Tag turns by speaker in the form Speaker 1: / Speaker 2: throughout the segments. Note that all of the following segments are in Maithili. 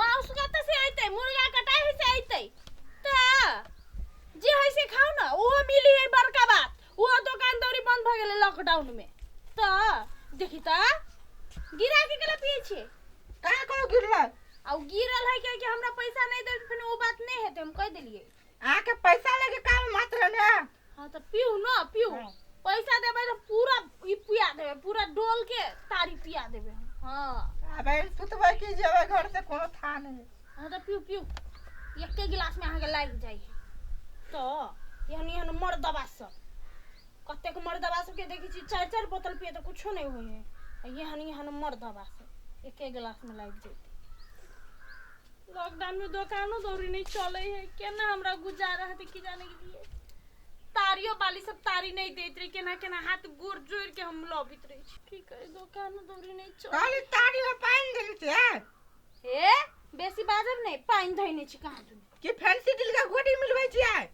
Speaker 1: माउस
Speaker 2: कतऽ से अइतै मुर्गा कटाही से अइतै तऽ जे है से खाउ ने ओहो मिली है बड़का बात ओहो दोकान दौरी बंद भऽ गेलै लॉकडाउन में तऽ देखी तऽ गिरा के केला पियै छियै का कहू
Speaker 1: गिरला आ उ गिरल
Speaker 2: है कि हमरा पैसा नहीं देल फिर वो बात नहीं है तो हम कह दिलिए अहाँके पैसा
Speaker 1: लेके काम मत रहने हाँ तो पीऊ
Speaker 2: ना पीऊ हाँ। पैसा
Speaker 1: देवे तो
Speaker 2: पूरा ई पिया देवे पूरा डोल के तारी पिया देवे हाँ अबे सुतबे
Speaker 1: की जेबे घर से कोनो था नहीं हाँ तो पीऊ पीऊ
Speaker 2: एक के गिलास में अहाँके लाग जाए तो एहन एहन मर दबा सब कतेक मर दबा सबके देखै छी चारि चारि बोतल पिए तऽ कुछो नहि होइ हइ एहन एहन मर दबा सब एके गिलासमे लागि जेतै लॉकडाउन में दोकानो दौरी नहीं चले है केना हमरा गुजारा हते की जाने के लिए तारियो बाली सब तारी नहीं देत रही केना केना हाथ गोर जोड़ के हम लबित रही छी। की करे दोकानो दौरी नहीं चले कहली तारी में पानि
Speaker 1: देली ते हे
Speaker 2: बेसी बाजब नहीं पानी धैने छी कहाँ तू कि फैंसी दिल का
Speaker 1: गोटी मिलबै छियै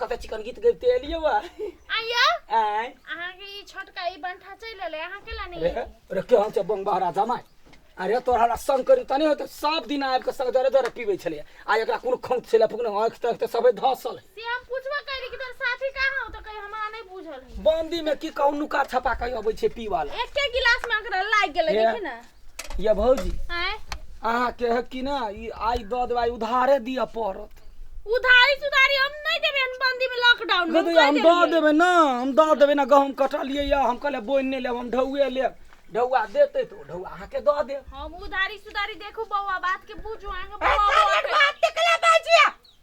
Speaker 3: कतऽ चिकन गीत गबते एलियै वा आइयो आय
Speaker 2: अहाँके
Speaker 3: ई
Speaker 2: छोटका ई बंठा चलि एलै अहाँ केला नहि अरे एलियै? अरे केहन छै
Speaker 3: बंगबहरा जमाय अरे तोरा ला संग करी तनी होते सब दिन आबि कऽ संग दरे दरे पीबै छलै आ एकरा कोनो खौंत छलै फुकने आँखि ताँखि तऽ सबै धसल है से हम पूछबो करी
Speaker 2: कि तोर साथी कहाँ हो तऽ कही हमरा नहि बुझल है बंदी में की कहू नुका
Speaker 3: छपा कही अबै छै पीवाला एके गिलास में अकरा
Speaker 2: लागि गेलै देखी ना ये भौजी
Speaker 3: आँय?
Speaker 2: अहाँ के है
Speaker 3: कि ना ई आई द देवाई उधारे दिया पड़त उधारी
Speaker 2: सुधारी हम नहीं देबे हम बंदी में लॉकडाउन में कहते हम द देबे ना
Speaker 3: हम द देबे ना गहूम कटलिए या हम कहले बोइन नहीं लेब हम ढौए लेब ढौआ देते तो ढौआ अहाँ के द देब हम
Speaker 2: उधारी सुधारी देखू बौआ बात के बुझू
Speaker 1: आगे बौआ बौआ के-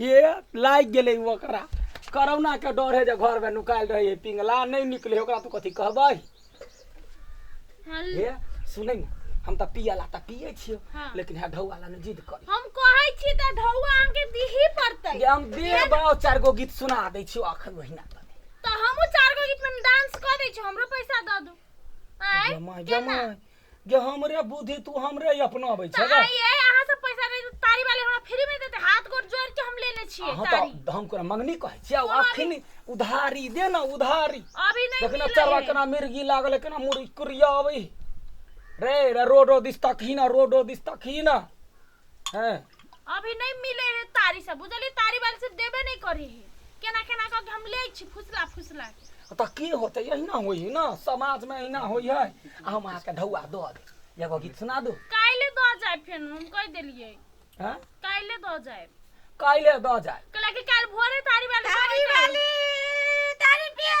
Speaker 3: हे लागि गेलै ओकरा करोना के डर है जे घर में नुकायल रहे है पिंगला नहीं निकले है, ओकरा तू कथी कहबै हल- हे सुनै ने हम तऽ पियला तऽ पियै छियै हाँ। लेकिन हे ढौआ ला
Speaker 2: नहि जिद
Speaker 3: करी हम कहै छी तऽ
Speaker 2: ढौआ अहाँके दीही पड़तै जे हम दे बाओ
Speaker 3: चार गो गीत सुना दै छियौ अखन ओहिना तऽ तऽ हमहूँ चार
Speaker 2: गो गीतमे डांस कऽ दै छी हमरो पैसा दऽ दू आँय जमाय केना जमाय
Speaker 3: जे हमरे बुद्धि तू हमरे अपनाबै छै गे आइए अहाँ सब पैसा
Speaker 2: दे तारी वाले हमरा फ्री में देते हाथ गोड़ जोड़ के हम लेने छिए अहाँ तारी तऽ हम तोरा
Speaker 3: मंगनी
Speaker 2: कहै
Speaker 3: छियै आब अखन उधारी दे ने उधारी अभी नहीं देखना मिले
Speaker 2: चरवा है। केना
Speaker 3: मिर्गी
Speaker 2: लागल
Speaker 3: केना मुरी कुरिया अबै रे रे रोडो दिस तकही ना रोडो दिस तकही ना है अभी नहीं
Speaker 2: मिले है तारी सब बुझली तारी वाले से देबे नहीं करे है केना केना करके हम ले छी फुसला फुसला के तऽ की होतै
Speaker 3: अहिना होइ है ना समाजमे अहिना होइ है आ हम अहाँके ढौआ दऽ देब एगो गीत सुना दू काल्हि दऽ जाए
Speaker 2: फेर हम कहि देलियै हैं काल्हि
Speaker 3: दऽ जाए
Speaker 2: काल्हि दऽ
Speaker 3: जाय कैला कि काल्हि भोरे
Speaker 2: तारी वाले तारी वाली
Speaker 1: तारी पिया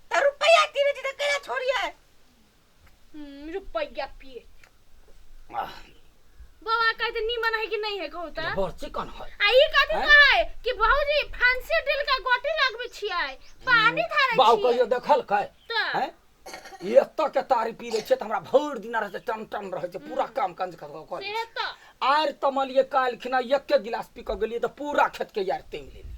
Speaker 1: तऽ
Speaker 2: रुपैआ कीनै छी तऽ कैला
Speaker 3: छोड़ियै हम्म, रुपैया पिए आह,
Speaker 2: बाबा कहै छै नीमन है कि नहीं है कहू तऽ बड़ चिकन है आ
Speaker 3: ई कथी हैं? कहै
Speaker 2: कि
Speaker 3: भौजी
Speaker 2: फांसी ड्रिल का गोटी लगबै छियै पानी धारै बाउ छियै कहियो देखल कै
Speaker 3: तऽ हैं? ई एतऽ के तारी पी लै छै तऽ हमरा भरि दिन रहै छै टन टन रहै छै पूरा काम काज कर कर लै से तऽ आर
Speaker 2: तमलिए
Speaker 3: काल्हि खिना एके गिलास पी कऽ गेलियै तऽ पूरा खेत के यार तेम लेलियै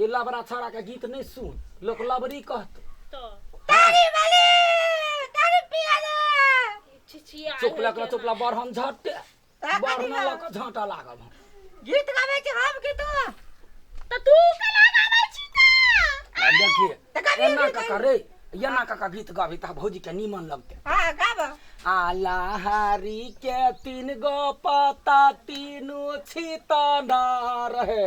Speaker 3: ए
Speaker 2: लबरा
Speaker 3: छौड़ा के गीत नहीं सुन लोग लबरी कहते तारी
Speaker 2: वाली
Speaker 1: तारी पिया ले छिछिया चुप लग
Speaker 2: चुप लग बड़ हम
Speaker 3: झटे ता बड़ कथी ना बा? लग झटा लागब हम। गीत गावे
Speaker 1: छी हम गीत त तू
Speaker 2: केना गाबै छी त आ देखिए त कभी
Speaker 3: एना भी काका रे एना काका गीत गाबी ता भौजी के नीमन लगते हां गाब
Speaker 1: आलाहारी
Speaker 3: के तीन गो पता तीनू छितना रहे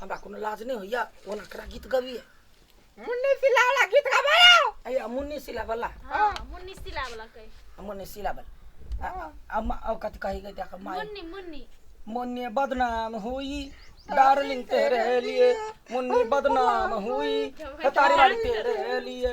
Speaker 1: हमरा कोनो लाज नहि
Speaker 3: होइया ओना करा गीत गबिए मुन्नी
Speaker 1: सिला वाला गीत गाबो ना अया मुन्नी
Speaker 3: सिला वाला
Speaker 2: हां मुन्नी सिला वाला कहे
Speaker 3: मुन्नी सिला वाला अम्मा ओ कथि कहि गई देखा माई मुन्नी मुन्नी
Speaker 2: मुन्नी
Speaker 3: बदनाम हुई डार्लिंग तेरे लिए मुन्नी बदनाम हुई तारी वाली तेरे लिए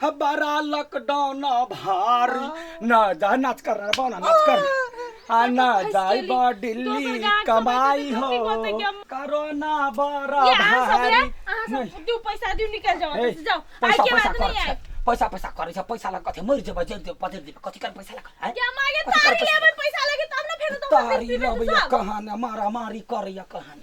Speaker 3: ह बड़ा लॉकडाउन भारी ना जा नाच कर रहा बाना नाच कर आ ना जाई बा दिल्ली कमाई हो कोरोना बड़ा ये अहाँ सब रे, भारी अहाँ सब नहीं दू
Speaker 2: पैसा दू निकल जाओ ए, जाओ आइ पैसा के पैसा
Speaker 3: बाद
Speaker 2: कर नहीं
Speaker 3: आइ
Speaker 2: पैसा
Speaker 3: पैसा
Speaker 2: करे
Speaker 3: छ पैसा लग कथे मरि जेबा जेल जेबा पदेर जेबा कथि कर पैसा लग हैं क्या मागे कथी तार कर के पैसा?
Speaker 2: लेबै पैसा लगे तब न फेर दोसर तारी दिन पीबे अब तो या सब
Speaker 3: कहान मारा मारी कर या कहान